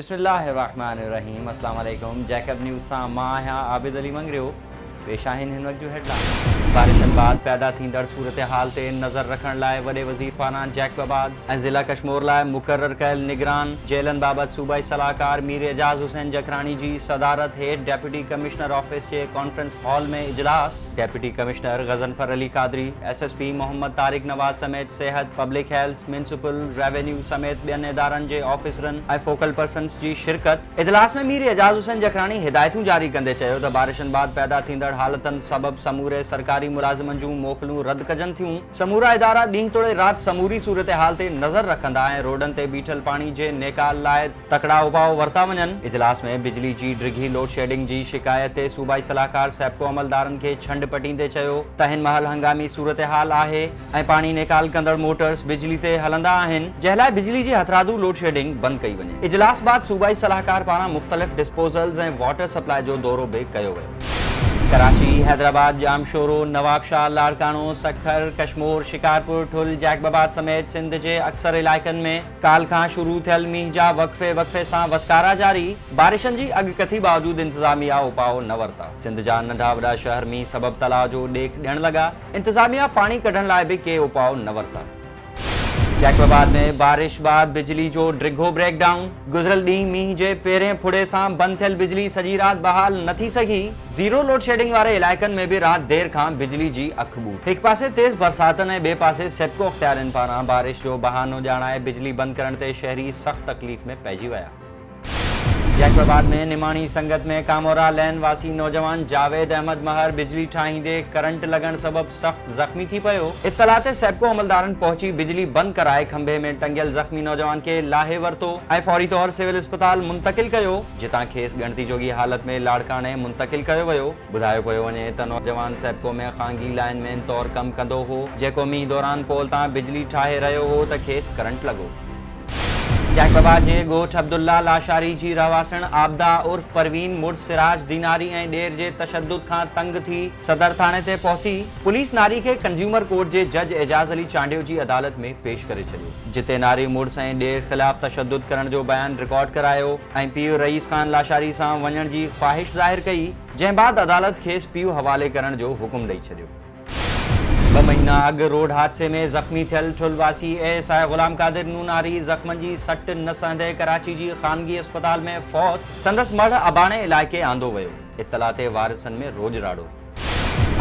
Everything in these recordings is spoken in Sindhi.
بسم الله الرحمٰن الرحيم اسلام عليڪم جيڪب نيوز سان مان آهيان عابد علي مڱريو پيش آهن هن وقت جون هيڊلائينز بارشن بعد پيدا ٿيندڙ صورتحال تي نظر رکڻ لاء وڏي وزير فاران جيڪب آباد ۽ ضلع ڪشمور لاء مقرر ڪيل نگران جيلن بابت صوبائي صلاحڪار مير اعجاز حسين جکراڻي جي صدارت هيٺ ڊپٽي ڪمشنر آفيس جي ڪانفرنس هال ۾ اجلاس deputy commissioner Ghazanfar Ali Qadri, S S P Muhammad Tariq Nawaz سميت صحت، پبلڪ هيلٿ، ميونسپل، ريونيو سميت ٻين ادارن جي آفيسرن ۽ فوڪل پرسنز جي شرڪت. اجلاس ۾ مير اعجاز حسين جکراڻي هدايتون جاري ڪندي چيو ته بارشن بعد پيدا ٿيندڙ حالتن سبب سموري سرڪاري ملازمن جون موڪلون رد ڪجن ٿيون، سمورا ادارا ڏينهن توڙي رات سموري صورتحال تي نظر رکندا ۽ روڊن تي بيٺل پاڻي جي نيڪال لاء تڪڙا اپاء ورتا وڃن. اجلاس ۾ بجلي جي ڊگهي لوڊشيڊنگ جي شڪايت تي صوبائي صلاحڪار سيپڪو عملدارن کي ڇنڊ پٽيندي چيو ته هن مهل هنگامي صورتحال آهي ۽ پاڻي نيڪال ڪندڙ موٽرز بجلي تي هلندا آهن جنهن لاء بجلي جي هٿرادو لوڊشيڊنگ بند ڪئي وڃي. اجلاس بعد صوبائي صلاحڪار پاران مختلف ڊسپوزلز ۽ واٽر سپلاء جو دورو به ڪيو ويو. ڪراچي، حيدرآباد، ڄامشورو، نوابشاهه، لاڙڪاڻو، سکر، ڪشمور، شڪارپور، ٺل، جيڪب آباد سميت سنڌ جي اڪثر علائقن ۾ ڪالهه کان شروع ٿيل مينهن جا وقفي وقفي سان وسڪارا جاري، بارشن جي اڳڪٿي باوجود انتظاميا اپاء نه ورتا، سنڌ جا ننڍا وڏا شهر مينهن سبب تلاء جو ڏيک ڏيڻ لڳا، انتظاميا پاڻي ڪڍڻ لاء به ڪي اپاء نه ورتا. جيڪب آباد ۾ بارش بعد بجلي جو ڊگهو بريڪ ڊائون، گذريل ڏينهن مينهن جي پهرين ڦڙي سان بند ٿيل بجلي سڄي رات بحال نه ٿي سگهي، زيرو لوڊشيڊنگ واري علائقن ۾ به رات دير کان بجلي جي اک ٻوٽ. هڪ پاسي تيز برساتن ۽ ٻئي پاسي سيپڪو اختيارين پاران بارش جو بهانو ڄاڻائي بجلي بند ڪرڻ تي شهري سخت تڪليف ۾ پئجي ويا. جيڪب آباد ۾ نماڻي سنگت ۾ ڪامورا لين واسي نوجوان جاويد احمد مهر بجلي ٺاهيندي ڪرنٽ لڳڻ سبب سخت زخمي ٿي پيو، اطلاع تي سيپڪو عملدارن پهچي بجلي بند ڪرائي کنڀي ۾ ٽنگيل زخمي نوجوان کي لاهي ورتو ۽ فوري طور سول اسپتال منتقل ڪيو. جتان کيس ڳڻتي جوڳي حالت ۾ لاڙڪاڻي منتقل ڪيو ويو. ٻڌايو پيو وڃي ته نوجوان سيپڪو ۾ خانگي لائن مين طور ڪم ڪندو هو، جيڪو مينهن دوران پول تان بجلي ٺاهي رهيو هو ته کيس ڪرنٽ لڳو. جنهن بابا جي ڳوٺ عبدالله لاشاري جي رهواسڻ عابده عرف پروين مڙس سراج ديناري ۽ ڏير جي تشدد کان تنگ ٿي صدر ٿاڻي تي پهتي، پوليس ناري کي ڪنزيومر ڪورٽ جي جج اعجاز علي چانڊيو جي عدالت ۾ پيش ڪري ڇڏيو. جتي ناري مڙس ۽ ڏير خلاف تشدد ڪرڻ جو بيان رڪارڊ ڪرايو ۽ پيء رئيس خان لاشاري سان وڃڻ جي خواهش ظاهر ڪئي، جنهن بعد عدالت کيس پيء حوالي ڪرڻ جو حڪم ڏئي ڇڏيو. ٻه مهينا اڳ روڊ حادثي ۾ زخمي ٿيل ٺل واسي اي ايس آء غلام قادر نوناري زخمن جي سٽ نه سهندي ڪراچي جي خانگي اسپتال ۾ فوت، سندس مڙهه اباڻي علائقي آندو ويو، اطلاع تي وارثن ۾ روڄ راڙو.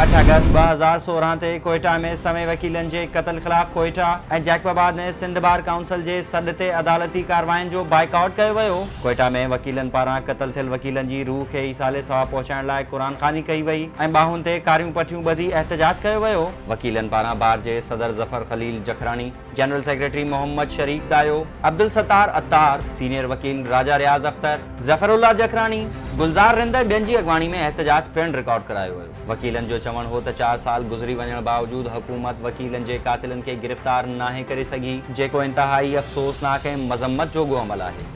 اٺ آگسٽ ٻه هزار سورهن تي ڪوئيٽا ۾ سوين وڪيلن جي قتل خلاف ڪوئيٽا ۽ جيڪب آباد ۾ سنڌ بار ڪائونسل جي سڏ تي عدالتي ڪاررواين جو بائيڪاٽ ڪيو ويو. ڪوئيٽا ۾ وڪيلن پاران قتل ٿيل وڪيلن جي روح کي ايصال ثواب پهچائڻ لاء قرآن خواني ڪئي وئي ۽ ٻانهن تي ڪاريون پٽيون ٻڌي احتجاج ڪيو ويو. وڪيلن پاران بار جي صدر Zafar Khalil Jakhrani, general secretary Muhammad Sharif Dayo, Abdul Sattar Attar, senior وڪيل راجا رياض اختر، ظفرالله جکراڻي، گلزار رند ۽ ٻين جي اڳواڻي ۾ احتجاج پڻ رڪارڊ ڪرايو ويو. وڪيلن جو چوڻ هو ته چار سال گذري وڃڻ باوجود حڪومت وڪيلن جي قاتلن کي گرفتار ناهي ڪري سگهي، جيڪو انتهائي افسوسناڪ ۽ مذمت جوڳو عمل آهي.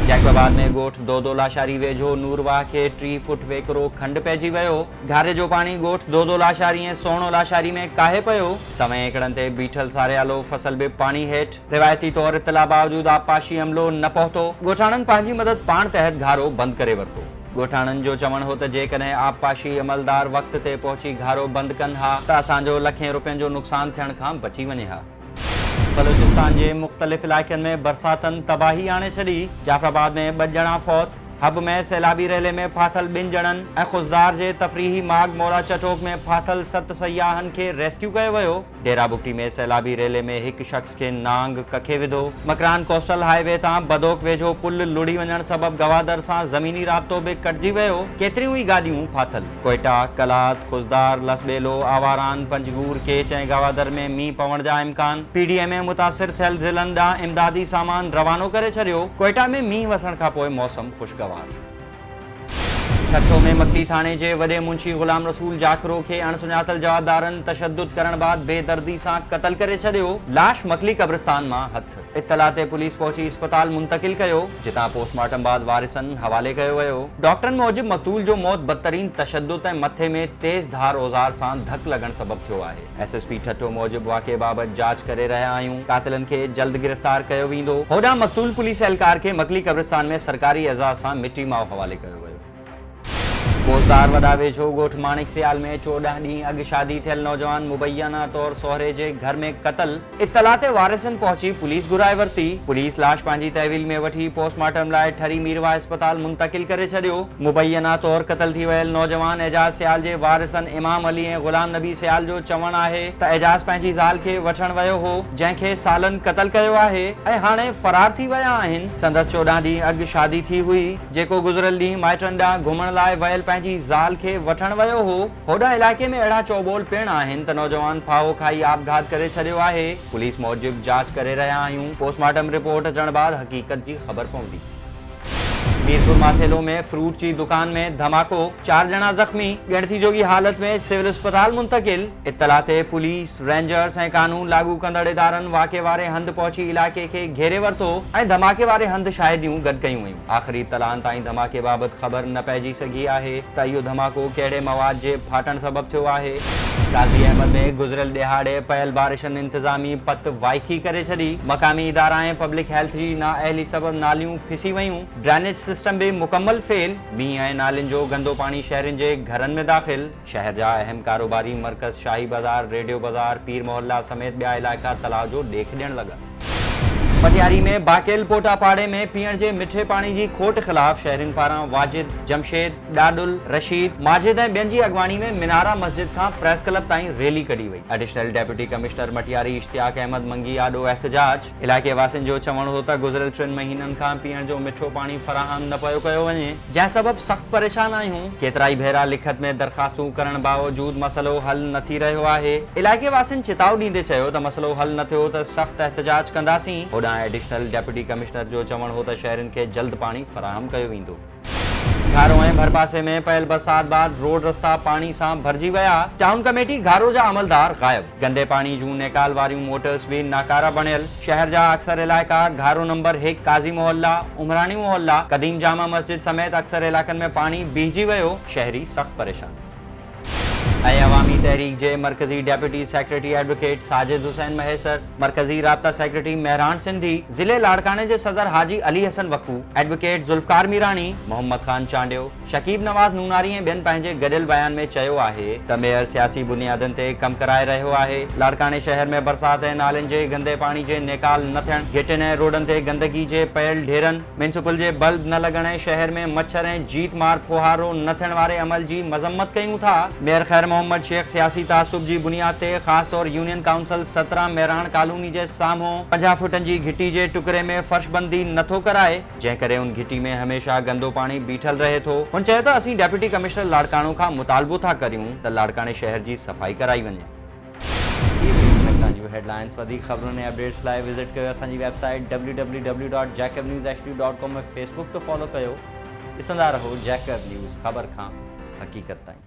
جيڪب آباد ۾ ڳوٺ دودو لاشاري ويجهو نور واهه کي ٽي فوٽ ويڪرو کنڊ پئجي ويو، گهاري جو پاڻي ڳوٺ دودو لاشاري ۽ سهڻو لاشاري ۾ ڪاهي پيو، سوين ايڪڙن تي بيٺل ساريالو فصل به پاڻي هيٺ، روايتي طور اطلاع باوجود آبپاشي عملو نه پهتو، ڳوٺاڻن پنهنجي مدد پاڻ تحت گهارو بند ڪري ورتو، ڳوٺاڻن جو چوڻ هو ته جيڪڏهن آبپاشي عملدار وقت تي پهچي گهارو بند ڪن ها ته اسان جو لکين روپين جو نقصان ٿيڻ کان بچي وڃي ها. بلوچستان جي مختلف علائقن ۾ برساتن تباهي آڻي ڇڏي، جعفر آباد ۾ ٻه ڄڻا فوت، حب ۾ سيلابي ريلي ۾ ڦاٿل ٻن ڄڻن ۽ خضدار جي تفريحي ماڳ مولا چٽوڪ ۾ ڦاٿل ست سياحن کي ريسڪيو ڪيو ويو، ڊيرا بگٽي ۾ سيلابي ريلي ۾ هڪ شخص کي نانگ ڪکي وڌو، مڪران ڪوسٽل هاء وي تان بدوڪ ويجهو پل لڙهي وڃڻ سبب گوادر سان زميني رابطو به ڪٽجي ويو، ڪيتريون ئي گاڏيون ڦاٿل. ڪوئيٽا، قلات، خضدار، لسٻيلو، آواران، پنجگور، ڪيچ ۽ گوادر ۾ مينهن پوڻ جا امڪان، پي ڊي ايم اي متاثر ٿيل ضلعن ڏانهن امدادي سامان روانو ڪري ڇڏيو، ڪوئيٽا ۾ مينهن وسڻ کانپوء موسم خوشگوار. ٺٽو ۾ مڪلي ٿاڻي جي وڏي منشي غلام رسول جاکرو کي اڻ سڃاتل جوابدارن تشدد ڪرڻ بعد بي دردي سان قتل ڪري ڇڏيو، لاش مڪلي قبرستان مان هٿ. اطلاع تي پوليس پهچي اسپتال منتقل ڪيو، جتان پوسٽ مارٽم بعد وارثن حوالي ڪيو ويو. ڊاڪٽرن موجب مقتول جو موت بدترين تشدد ۽ مٿي ۾ تيز ڌار اوزار سان ڌڪ لڳڻ سبب ٿيو آهي. ايس ايس پي ٺٽو موجب واقعي بابت جاچ ڪري رهيا آهيون، قاتلن کي جلد گرفتار ڪيو ويندو. هوڏانهن مقتول پوليس اهلڪار کي مڪلي قبرستان ۾ سرڪاري اعزاز سان مٽي ماء حوالي ڪيو ويو. ڪوسار وڏا ويجهو ڳوٺ ماڻڪ سيال ۾ چوڏهن ڏينهن اڳ شادي ٿيل نوجوان مبينا طور سهري جي گهر ۾ قتل، اطلاع تي وارثن پهچي پوليس گهرائي ورتي، پوليس لاش پنهنجي تحويل ۾ وٺي پوسٽ مارٽم لاء ٺري ميرواهه اسپتال منتقل ڪري ڇڏيو، مبينا طور قتل ٿي ويل نوجوان اعجاز سيال جي وارثن امام علي ۽ غلام نبي سيال جو چوڻ آهي ته اعجاز پنهنجي زال کي وٺڻ ويو هو جنهن کي سالن قتل ڪيو آهي ۽ هاڻي فرار ٿي ويا آهن، سندس چوڏهن ڏينهن اڳ شادي ٿي هئي. جيڪو گذريل ڏينهن مائٽن ڏانهن گهمڻ لاء ويل پنهنجي زال کي وٺڻ ويو هو، هوڏانهن علائقي ۾ اهڙا چوٻول پڻ آهن ته نوجوان ڦاهو کائي آپگهات ڪري ڇڏيو آهي، پوليس موجب جاچ ڪري رهيا آهيون، پوسٽ مارٽم رپورٽ اچڻ بعد حقيقت جي خبر پوندي. ميرپور ماٿيلو ۾ فروٽ جي دڪان ۾ ڌماڪو، چار ڄڻا زخمي، ڳڻتي جوڳي حالت ۾ سول اسپتال منتقل، اطلاع تي پوليس، رينجرز ۽ قانون لاڳو ڪندڙ ادارن واقعي واري هنڌ پهچي علائقي کي گهيري ورتو ۽ ڌماڪي واري هنڌ شاهديون گڏ ڪيون آخري اطلاعن تائين ڌماڪي بابت خبر نه پئجي سگهي آهي ته اهو ڌماڪو ڪهڙي مواد جي ڦاٽڻ سبب ٿيو آهي. غازي احمد ۾ گذريل ڏهاڙي پيل بارشن انتظامي پت وائکي ڪري ڇڏي، مقامي ادارا ۽ پبلڪ هيلٿ جي نااهلي سبب ناليون پسي ويون، ڊرينيج سسٽم به مڪمل فيل، مينهن ۽ نالين جو گندو پاڻي شهرين جي گهرن ۾ داخل. شهر جا اهم ڪاروباري مرڪز شاهي بازار، ريڊيو بازار، پير محله سميت ٻيا علائقا تلاء جو ڏيک ڏيڻ لڳا. مٽياري ۾ باقيل پوٽا پاڙي ۾ پيئڻ جي مٺي پاڻي جي کوٽ خلاف شهرين پاران واجد، جمشيد، ڏاڏل، رشيد، ماجد ۽ ٻين جي اڳواڻي ۾ منارا مسجد کان پريس ڪلب تائين ريلي ڪڍي وئي. Additional deputy commissioner Matiari Ishtiaq Ahmed Mangi آڏو احتجاج. علائقي واسين جو چوڻ هو ته گذريل ٽن مهينن کان پيئڻ جو مٺو پاڻي فراهم نه پيو ڪيو وڃي، جنهن سبب سخت پريشان آهيون، ڪيترائي ڀيرا لکت ۾ درخواستون ڪرڻ باوجود مسئلو حل نه ٿي رهيو آهي، علائقي واسين چتاء ڏيندي چيو ته مسئلو حل نه ٿيو ته سخت احتجاج ڪنداسين، هوڏانهن ايڊيشنل ڊپٽي ڪمشنر جو چوڻ هو ته شهرين کي جلد پاڻي فراهم ڪيو ويندو. گهارو ۽ ڀرپاسي ۾ پيل برسات بعد روڊ رستا پاڻي سان ڀرجي ويا، ٽائون ڪميٽي گهارو جا عملدار غائب، گندي پاڻي جون نيڪال واريون موٽرس به ناڪارا بڻيل، شهر جا اڪثر علائقا گهارو نمبر هڪ، قاضي محله، عمراڻي محله، قديم جامع مسجد سميت اڪثر علائقن ۾ پاڻي بيهجي ويو، شهري سخت پريشان. اي عوامي تحريڪ جي مرڪزي deputy secretary advocate Sajid Hussain Mahesar, مرڪزي رابطا سيڪريٽري مهراڻ سنڌي، ضلعي لاڙڪاڻي جي صدر حاجي علي حسن وڪو، ايڊووڪيٽ ذوالفقار ميراڻي، محمد خان چانڊيو، شڪيب نواز نوناري ۽ ٻين پنهنجي گڏيل بيان ۾ چيو آهي ته ميئر سياسي بنيادن تي ڪم ڪرائي رهيو آهي، لاڙڪاڻي شهر ۾ برسات ۽ نالين جي گندي پاڻي جي نيڪال نه ٿيڻ، گهٽين ۽ روڊن تي گندگي جي پيل ڍيرن. ميونسپل جي بلب نه لڳڻ ۽ شهر ۾ مڇر ۽ جيت مار ڦوهارو نه ٿيڻ واري عمل جي مذمت ڪيون ٿا. ميئر خير محمد شيخ سياسي تعصب جي بنياد تي خاص طور يونين ڪائونسل سترهن مهراڻ ڪالوني جي سامهون پنجاهه فوٽن جي گهٽي جي ٽڪري ۾ فرش بندي نه ٿو ڪرائي جنهن ڪري ان گهٽي ۾ هميشه گندو پاڻي بيٺل رهي ٿو. هن چيو ته اسين ڊپٽي ڪمشنر لاڙڪاڻو کان مطالبو ٿا ڪريون ته لاڙڪاڻي شهر جي صفائي ڪرائي وڃي. هي هئي مهتان جون هيڊلائنس وڌيڪ خبرن ۽ اپڊيٽس لاء وزٽ ڪيو اسان جي website W W W dot Jacob news H D dot com ۽ Facebook تي فالو ڪيو ڏسندا رهو جيڪب نيوز خبر کان حقيقت تائين.